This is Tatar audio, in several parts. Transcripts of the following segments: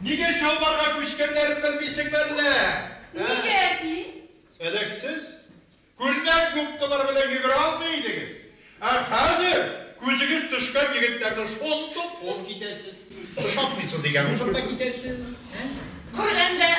Нигә Чалбарга күчкәннәрен белмисеңме әллә? Нигә, әти? Элек сез күлмәк губкалары белән йөгерә алмый идегез, ә хәзер күзегез төшкән егетләрне шундук куып китәсез. Ошатмыйсыз дигән узып та китәсез, ә? Коръәндә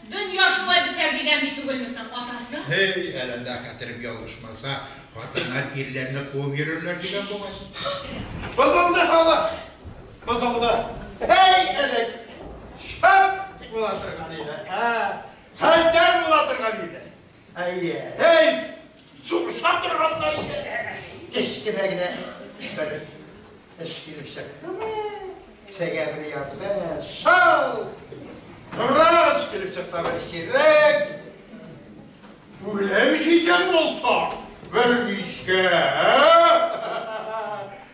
дөнья шулай бетәр дигән ди түгелме соң, атасы? Һей, әләндә хәтерем ялгышмаса, хатыннар ирләрне куып йөрерләр дигән бугай. Бозылды халык. Бозылды. Әй, элек! Шәп була торган иде. Ә, хәлдәр була торган иде. Әйе, әй, сугыша торганнар иде. Кечкенә генә бер эш килеп чыктымы? Кесәгә бер ярды. Шау! Сыраш килеп чыкса бер чирек. Үлем җитәр булса, бер мичкә.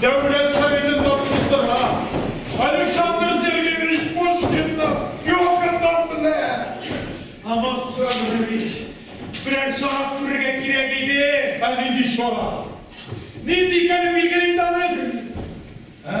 Дәүләт Советы тапшырдыра. Александр Сергеевич Пушкинны Йокердан беләм. Алмаз Сабирович, берәр чара күрергә кирәк иде. Ә нинди чара? Нинди икәнен билгели инде аны. Ә?